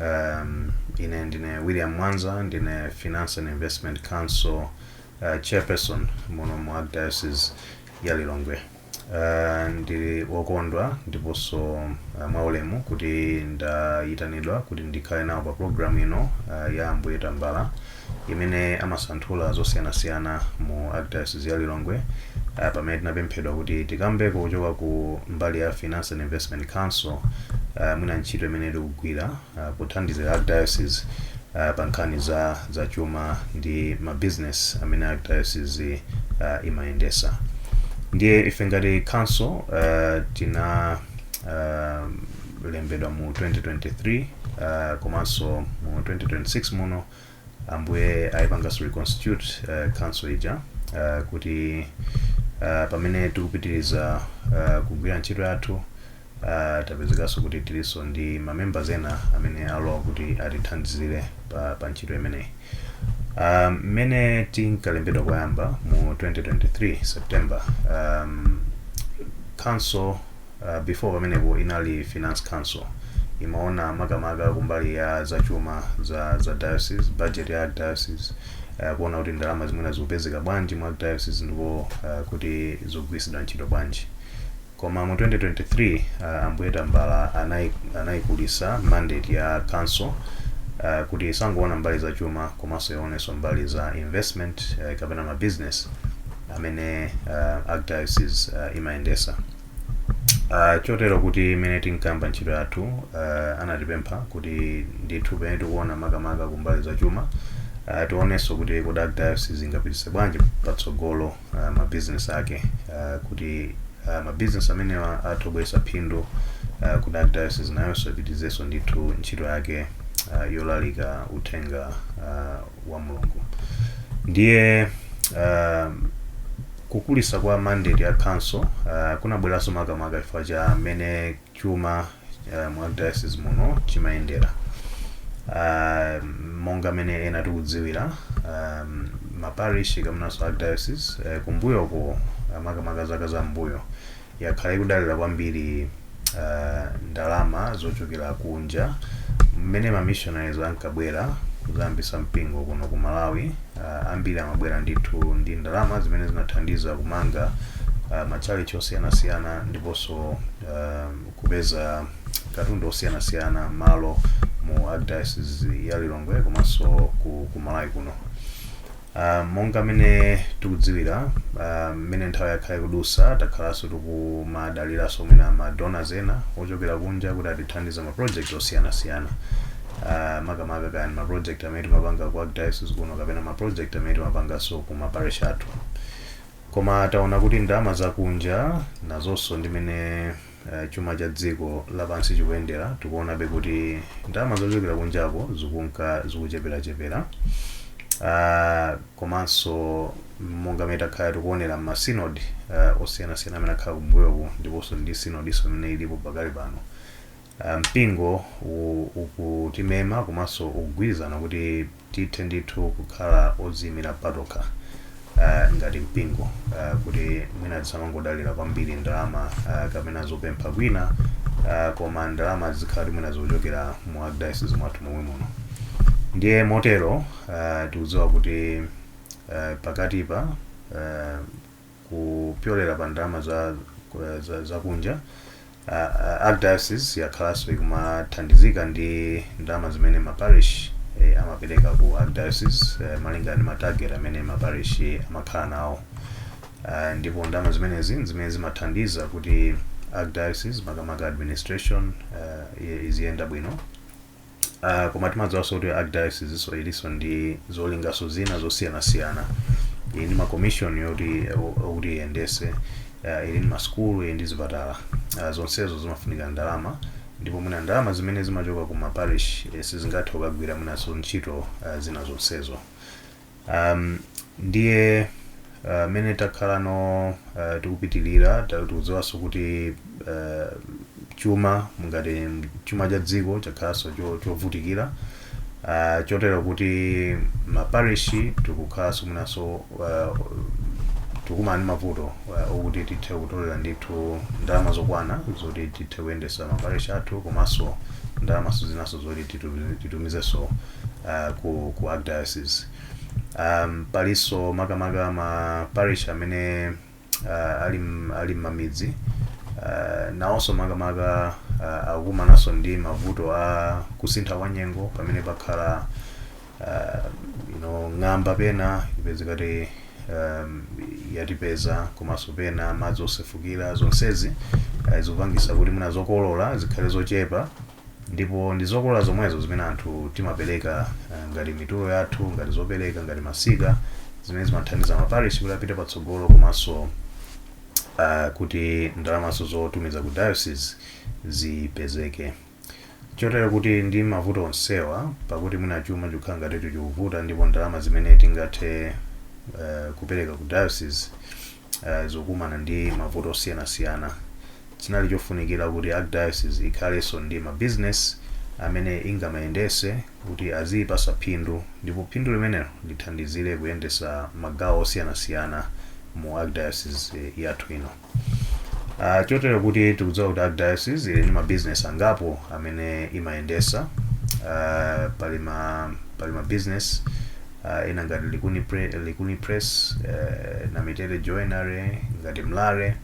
Um, ine ndine William Mwanza ndine Finance and Investment Council uh, chairperson muno mu Archdiocese ya Lilongwe. Uh, ndili wokondwa ndiponso uh, mwaulemu kuti ndayitanidwa kuti ndikhale nawo pa program ino uh, ya Ambuye Tambala imene amasanthula zosiyanasiyana mu Arkdayosizi ya Lilongwe ah, pamene tinapemphedwa kuti tikambeko kuchoka ku mbali ya Finance and Investment Council ah, mwina ntchito imene tikugwira ah, pothandizira Arkdayosizi ah, pa nkhani za chuma ndi mabizinesi amene Arkdayosizi ah, imayendesa ndiye ife ngati council uh, tina uh, lembedwa mu 2023 uh, komanso mu 2026 muno ambuye ayipanganso reconstitute uh, council ija uh, kuti uh, pamene tikupitiriza uh, kugwira ntchito yathu uh, tapezekanso kuti tilinso ndi mamembers ena amene alowa kuti atithandizire pa, pa ntchito imeneyi um, mmene tinkalembedwa koyamba mu 2023 september um, council uh, before pamenepo inali finance council imaona makamaka kumbali ya zachuma za za diocese budget ya diocese uh, kuona kuti ndalama zimene zikupezeka bwanji mu diocese ndipo uh, kuti zikugwiritsidwa ntchito bwanji koma mu 2023 uh, ambuye tambala anai- anaikulisa mandate ya council uh, kuti isangoona mbali za chuma komanso ionenso mbali za investment uh, kapena mabusiness amene uh, archdiocese uh, imayendesa Ah, chotero kuti mmene tinkayamba ntchito yathu ah, anatipempha kuti ndithu pamene tikuona makamaka kumbali za chuma ah, tionenso kuti kodi archdiocese ingapitise bwanji patsogolo ah, mabizinesi ake ah, kuti ah, mabizinesi amenewa atha kubweretsa phindu ah, kuti archdiocese nayonso ipitizenso ndithu ntchito yake ah, yolalika uthenga ah, wa mulungu ndiye ah, Kukulitsa kwa mandate ya council kunabweranso makamaka chifukwa cha mmene chuma mu archdiocese muno chimayendera. Monga mmene ena tikudziwira ma parish kapenanso archdiocese kumbuyoku makamaka zaka za mmbuyo yakhala ikudalira kwambiri ndalama zochokera kunja. Mmene ma missionaries ankabwera kudzayambitsa mpingo kuno ku Malawi, ambiri amabwera ndithu ndi ndalama zimene zinathandiza kumanga matchalitchi osiyanasiyana ndiponso kupeza katundu osiyanasiyana, malo, mu Archdiocese ya Lilongwe komanso ku Malawi kuno. Uh, monga mmene tikudziwira mmene uh, nthawi yakhala ikudusa takhalanso tikumadaliranso mwina madonors ena ochokera kunja kuti atithandize ma project osiyanasiyana uh, makamaka kaya ma project amene timapanga ku archdiocese kuno kapena ma project amene timapanganso ku ma parish athu koma taona kuti ndalama zakunja nazonso ndimene eh, chuma cha dziko lapansi chikuyendera tikuonabe kuti ndalama zochokera kunjako zikunka zikucheperachepera Ah, komanso monga mmene takhala tikuonera m'masinodi uh, osiyanasiyana amene akhala kumbuyoku ndiponso ndi sinodiso imene ilipo pakali pano Ah, mpingo u- ukutimema komanso ukugwirizana kuti tithe ndithu kukhala odziimira patokha ah, ngati mpingo ah, kuti mwina tisamangodalira kwambiri ndalama ah, kapena zopempha kwina ah, koma ndalama zikhala kuti mwina zochokera mu archdiocese mwathu momwe muno ndiye motero ah, tikudziwa kuti ah, pakatipa ah, kupyolera pa ndalama za, za, za kunja uh, uh, archdiocese yakhalanso ikumathandizika ndi ndalama zimene maparish eh, amapereka ku archdiocese eh, malingana ndi matarget amene maparish amakhala nawo uh, ndipo ndalama zimenezi ndi zimene zimathandiza kuti archdiocese makamaka administration uh, i- iziyenda bwino Uh, koma timadziwanso kuti archdiocese so ilinso ndi zolingaso zina zosiyanasiyana ili ndi makomishoni okuti iyendese uh, ili ndi masukulu ili ndi zipatala uh, zonsezo zimafunika ndalama ndipo mwina ndalama zimene zimachoka ku maparish eh, sizingathe kukagwira mwinanso ntchito uh, zina zonsezo Um, ndiye uh, mmene takhala no uh, tikupitilira ta- tikudziwanso kuti uh, chuma ngati chuma cha dziko chakhalanso cho- chovutikira uh, chotero kuti maparishi tikukhalanso mwinanso uh, tikumana ndi mavuto uh, okuti tithe kutolera ndithu ndalama zokwana zoti tithe kuyendesa maparishi athu komanso ndalamanso zinanso zoti titu- titumizenso uh, ku, ku archdiocese um, palinso makamaka ma parish amene uh, ali m- ali mmamidzi uh, nawonso makamaka uh, akukumananso ndi mavuto a kusintha kwa nyengo pamene pakhala uh, you know, ng'amba pena ipezekati um, yatipeza komanso pena madzi osefukira zonsezi uh, zikupangisa kuti mwina zokolola zikhale zochepa Ndipo ndi zokolola zomwezo zimene anthu timapereka ngati mitulo yathu, ngati zopereka, ngati masika, zimene zimathandiza ma parish kuti apite patsogolo komanso kuti ndalamanso zotumiza ku diocese zipezeke. Chotero kuti ndi mavuto onsewa, pakuti mwina chuma chikhala ngati chikuvuta ndipo ndalama zimene tingathe kupereka ku diocese, eh, zikumana ndi mavuto osiyanasiyana chinali chofunikira kuti archdiocese ikhalenso ndi ma business amene ingamayendese kuti aziyipasa phindu ndipo phindu limenelo lithandizire kuyendesa magawo osiyanasiyana mu archdiocese yathu ino Uh, chotero kuti tikudziwa kuti archdiocese ili ndi mabizinesi angapo amene imayendesa uh, pali ma pali mabizinesi uh, ena ngati likuni, pre, likuni press uh, namitete joinery ngati mlare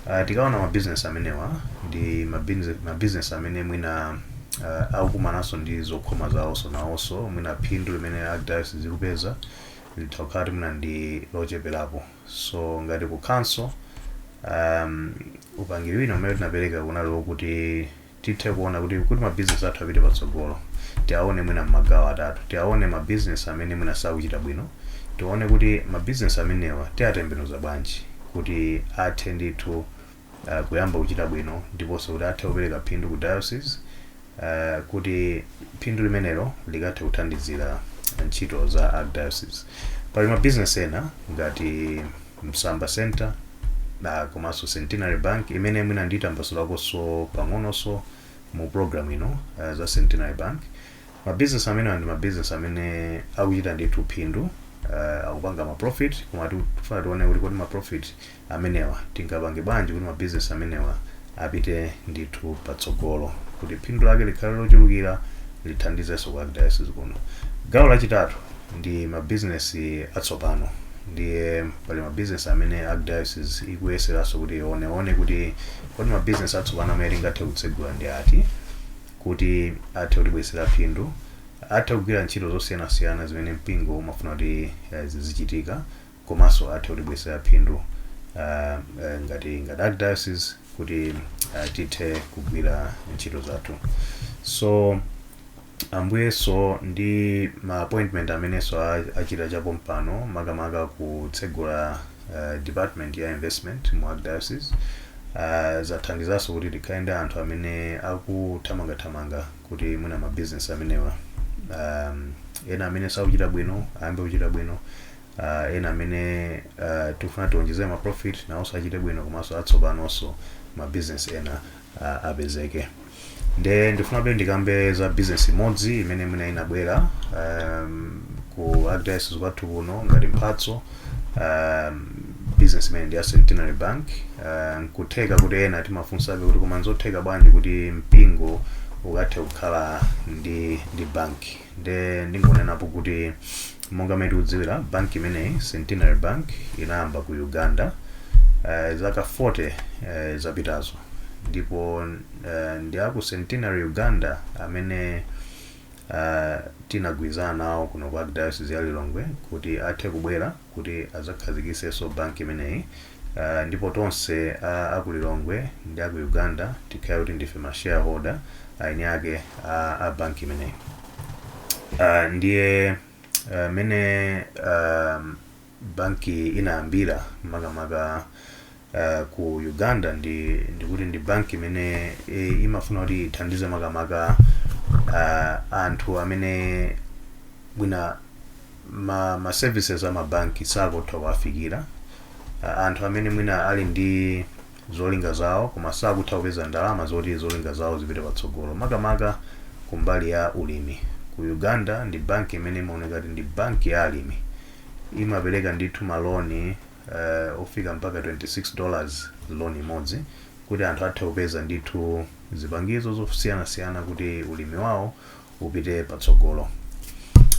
uh, tikaona mabizinesi amenewa ndi mabinze- mabizinesi amene mwina uh, akukumananso ndi zokhoma zawonso, nawonso mwina phindu limene archdiocese ikupeza litha kukhala kuti mwina ndi locheperapo so ngati ku council um, upangiri wina umene tinapereka kunali wokuti tithe kuona kuti kuti ma business athu apite patsogolo tiaone mwina mmagawo atatu tiaone ma business amene mwina sakuchita bwino tione kuti ma business amenewa tiatembenuza bwanji kuti athe ndithu uh, kuyamba kuchita bwino ndiponso kuti athe kupereka phindu ku diocese uh, kuti phindu limenelo likathe kuthandizira ntchito za archdiocese pali ma business ena ngati Msamba Centre na komanso Centenary Bank imene mwina nditambasulakonso pang'ononso mu program ino uh, za Centenary Bank. Ma business amenewa ndi ma business amene akuchita ndithu phindu uh, akupanga ma profit koma tifuna tione kuti kodi ma profit amenewa tingapange bwanji kuti ma business amenewa apite ndithu patsogolo kuti phindu lake likhale lochulukira lithandizenso ku archdiocese kuno gawo lachitatu ndi mabizinesi atsopano ndiye pali mabizinesi amene archdiocese ikuyeseranso kuti ioneone kuti kodi mabizinesi atsopano amene tingathe kutsegula ndi ati kuti athe kutibweretsera phindu athe kugwira ntchito zosiyanasiyana zimene mpingo umafuna kuti eh, zizichitika komanso athe kutibweretsera phindu uh, uh, ngati ngati archdiocese kuti uh, tithe kugwira ntchito zathu so ambuyenso ndi ma appointment amenenso a- achita chapompano makamaka kutsegula uh, department ya investment mu archdiocese uh, zathandizanso kuti tikhale ndi anthu amene akuthamangathamanga kuti mwina mabizinesi amenewa um, ena amene sakuchita bwino ayambe kuchita bwino uh, ena amene uh, tikufuna tionjezere ma profit nawonso achite bwino komanso atsopanonso ma business ena uh, apezeke nde ndifuna panopa ndikambe za business imodzi imene mwina inabwera um, ku archdiocese kwathu kuno ngati mphatso um, business imene ndi ya centenary bank uh, nkutheka kuti ena timafunsabe kuti koma nzotheka bwanji kuti mpingo ukhathe kukhala ndi ndi bank nde ndingonenapo kuti monga mmene tikudziwira bank imeneyi centenary bank inayamba ku uganda eh, zaka 40 eh, zapitazo ndipo eh, ndi aku centenary uganda amene eh, tinagwirizana nawo kuno ku archdiocese ya lilongwe kuti athe kubwera kuti azakhazikisenso bank imeneyi Aaa ndipo tonse a aku Lilongwe ndi aku Uganda tikhale kuti ndife ma shareholder aeni ake a, a bank imeneyi Aaa ndiye aaa, mmene aaa banki inayambira makamaka aaa ku Uganda ndi ndikuti ndi banki imene e imafuna kuti ithandize makamaka aaa anthu amene mwina ma ma services ama banki sakutha kuwafikira a- anthu amene mwina ali ndi zolinga zawo koma sakutha kupeza ndalama zoti zolinga zawo zipite patsogolo makamaka kumbali ya ulimi ku uganda ndi banki imene imaoneka kuti ndi banki ya alimi imapereka ndithu maloni uh, ofika mpaka 26 dollars loan imodzi kuti anthu athe kupeza ndithu zipangizo zosiyanasiyana kuti ulimi wawo upite patsogolo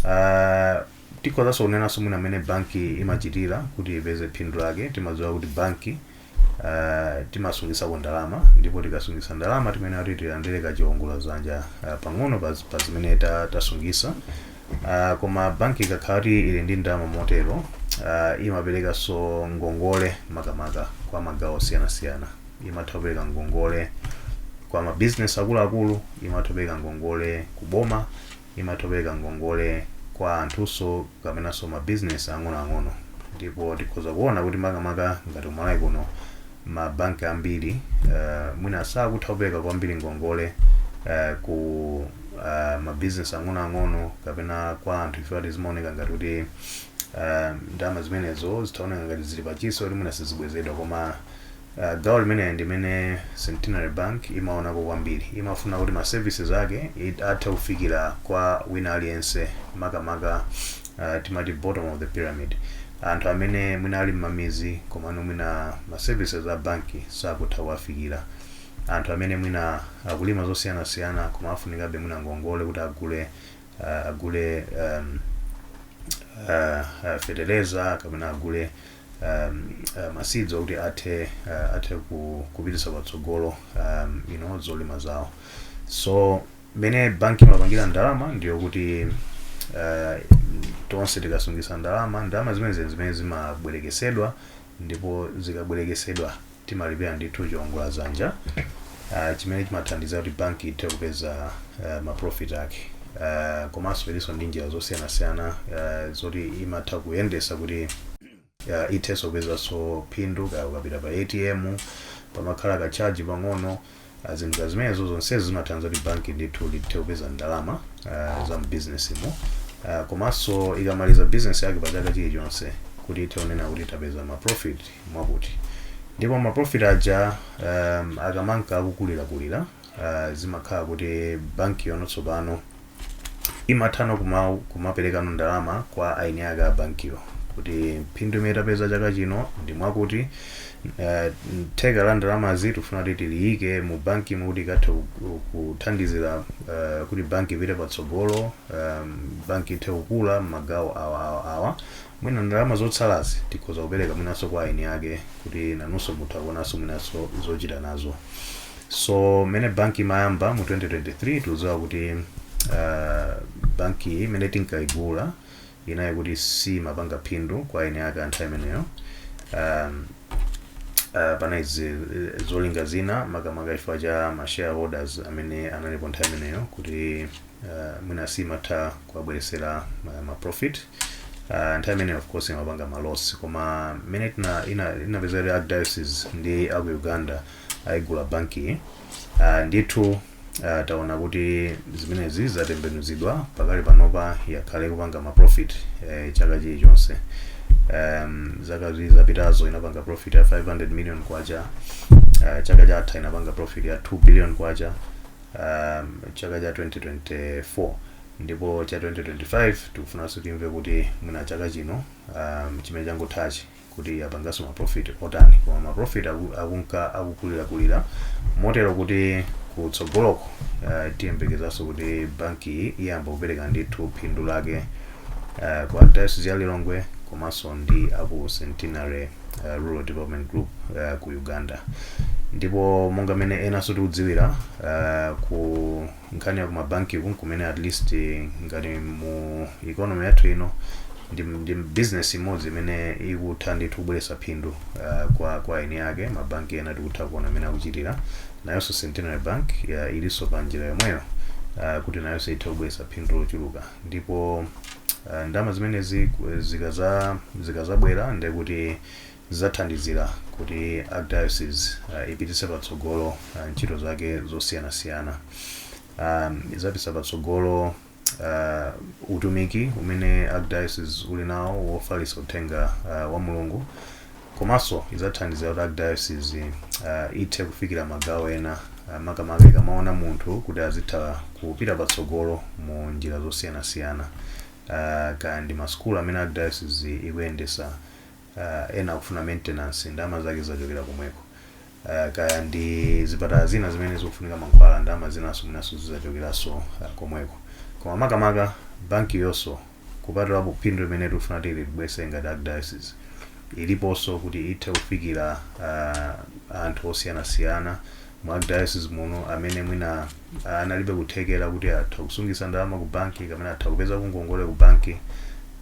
uh, tikhozanso kunenanso mwina amene banki imachitira kuti ipeze phindu lake timadziwa kuti banki uh, timasungisako ndalama ndipo tikasungisa ndalama timayenera kuti tilandire kachiwongola zanja uh, pang'ono pa pa zimene ta- tasungisa uh, koma banki ikakhala kuti ili ndi ndalama motero uh, imaperekanso ngongole makamaka kwa magawo osiyanasiyana imatha kupereka ngongole kwa ma business akuluakulu imatha kupereka ngongole ku boma imatha kupereka ngongole kwa anthunso kapenanso ma business ang'onoang'ono ndipo tikhoza kuona kuti makamaka ngati kumalawi kuno mabanki ambiri uh, mwina sakutha kupereka kwambiri ngongole uh, ku uh, mabizinesi ang'onoang'ono kapena kwa anthu ife ati zimaoneka ngati kuti uh, ndalama zimenezo zimaoneka ngati zili pachiwopsezo kuti mwina sizibwezedwa koma Uh, gawo limeneli ndimene Centenary Bank imaonako kwambiri. Imafuna kuti ma services ake it- athe kufikira kwa wina aliyense makamaka uh, timati bottom of the pyramid anthu amene mwina ali mmamizi komano mwina ma services a banki sakutha kuwafikira anthu amene mwina akulima zosiyanasiyana koma afunikabe mwina ngongole kuti agule uh, agule um, uh, uh, feteleza kapena agule um, uh, maseeds akuti athe uh, athe ku, kupitisa patsogolo um, you know, zolima zawo so mmene banki imapangira ndalama ndiyo kuti uh, tonse tikasungisa ndalama ndalama zimene zimene zimabwerekesedwa ndipo zikabwerekesedwa timalipira ndithu chiongola zanja uh, chimene chimathandiza kuti banki ithe kupeza uh, maprofit ake uh, komanso ilinso ndi njira zosiyanasiyana uh, zoti imatha kuyendesa kuti uh, ithenso kupezanso phindu kaya ukapita pa atm pamakhala kachaji pang'ono Ah, zinthu ngati zimenezo zonsezi zimathandiza kuti banki ndithu lithe kupeza ndalama ah, za mbizinesimo Ah, komanso ikamaliza bizinesi yake pa chaka chilichonse kuti ithe kunena kuti tapeza maprofit mwakuti ndipo maprofit aja um, akamanka akukulirakulira uh, zimakhala kuti bankiyo no tsopano imathano kumau kumapelekano ndalama kwa eni ake a bankiyo kuti phindu imene tapeza chaka chino ndi mwakuti eh, theka la ndalamazi tifuna kuti tiliyike mu banki imwe kuti ikathe ku- kuthandizira eh, kuti banki ipite patsogolo um, banki ithe kukula mmagawo awa awa awa Mwina ndalama zotsalazi tikhoza kupereka mwinanso kwa eni ake kuti nawonso atha kuonanso mwinanso zochita nazo. So mmene bank imayamba mu 2023 tikudziwa kuti ah, bank iyi imene tinkaigula inali kuti simapanga phindu kwa eni ake anthawi imeneyo. Um, uh, panali zi- zolinga zina makamaka chifukwa cha ma shareholders amene analipo nthawi imeneyo kuti uh, mwina simatha kuwabweresera ma, ma profit uh, nthawi imeneyo of course imapanga ma loss koma mmene tina- ina- inapeza kuti archdiocese ndi aku uganda ayigula banki uh, ndithu uh, taona kuti zimenezi zatembenuzidwa pakali panopa yakhala ikupanga ma profit eh, chaka chilichonse um, zaka ziwiri zapitazo inapanga profit ya 500 million kwacha uh, chaka chatha inapanga profit ya 2 billion kwacha chaka cha 2024 ndipo cha 2025 tikufunanso timve kuti mwina chaka chino um, chimene changothachi kuti apanganso ma profit otani koma ma profit aku- akunka akukulirakulira motero kuti kutsogoloko uh, tiyembekezanso kuti banki iyi iyamba kupereka ndithu phindu lake uh, kwa archdiocese ya lilongwe komanso ndi aku centenary uh, Rural Development Group uh, ku Uganda ndipo monga mene enanso tikudziwira uh, ku nkhani ya ku mabanki uku kumene at least eh, ngati mu economy yathu ino ndi, ndi business imodzi imene ikutha ndithu kubweretsa phindu uh, kwa kwa eni ake mabanki ena tikutha kuona mmene akuchitira nayonso Centenary Bank uh, ilinso pa njira yomweyo uh, kuti nayonso ithe kubweretsa phindu lochuluka ndipo Eh, ndalama zimenezi ku- zikaza- zikazabwera ndiye kuti zizathandizira kuti archdiocese uh, ipititse patsogolo uh, ntchito zake zosiyanasiyana um, izapititsa patsogolo uh, utumiki umene archdiocese uli nawo wofalitsa uthenga uh, wa mulungu komanso idzathandizira kuti archdiocese uh, ithe kufikira magawo ena uh, makamaka ikamaona munthu kuti azitha kupita patsogolo mu njira zosiyanasiyana uh, kaya ndi masukulu amene archdiocese ikuyendesa uh, ena akufuna maintenance ndalama zake zizachokera komweko uh, kaya ndi zipatala zina zimene zikufunika mankhwala ndalama zinanso mwinanso zizachokeraso uh, komweko koma makamaka banki iyonso kupatulapo phindu limene tikufuna kuti libwese ngati archdiocese iliponso kuti ithe kufikira uh, anthu osiyanasiyana mu archdiocese muno amene mwina analibe kuthekera kuti atha kusungisa ndalama ku banki kapena atha kupeza ngongole ku banki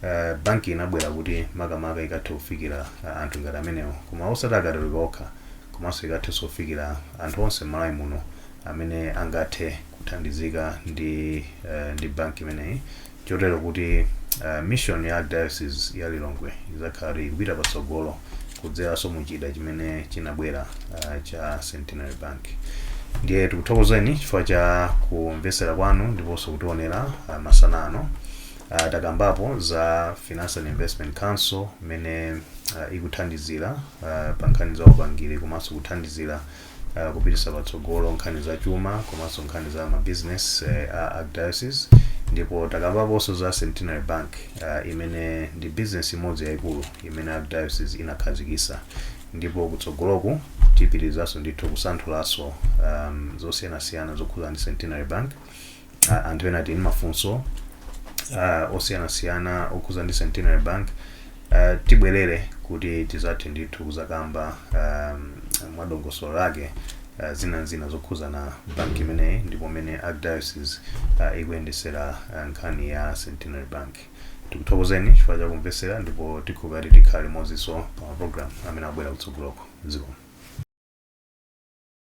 uh, banki inabwera kuti makamaka ikathe kufikira uh, anthu ngati amenewo koma osati akatolika okha komanso ikathe sofikira anthu onse m'malawi muno amene angathe kuthandizika ndi uh, ndi banki imeneyi chotero kuti uh, mission ya diocese ya lilongwe izakhala kuti ikupita patsogolo kudzeranso mu chida chimene chinabwera uh, cha centenary bank ndiye tikuthokozeni chifukwa cha kumvetsera kwanu ndiponso kutionera uh, masana ano uh, takambapo za finance and investment council imene uh, ikuthandizira uh, pa nkhani za upangiri komanso kuthandizira uh, kupitisa patsogolo nkhani za chuma komanso nkhani za mabusiness uh, a archdiocese ndipo takambaponso za centenary bank uh, imene ndi business imodzi yayikulu imene archdiocese inakhazikisa ndipo kutsogoloku tipitirizanso ndithu kusanthulanso um, zosiyanasiyana zokhuzana ndi centenary bank ah, anthu ena tili ndi mafunso ah, osiyanasiyana okhuza ndi centenary bank ah, tibwerere kuti tizathe ndithu kuzakamba ah, mwadongosolo lake uh, zina ndi zina zokhuzana bank imeneyi ndipo mene archdiocese uh, ikuyendesera uh, nkhani ya centenary bank tikuthokozeni chifukwa chakumvesera ndipo tikhumba kuti tikhale limodzinso pa maprogram amene abwera kutsogoloko zikomo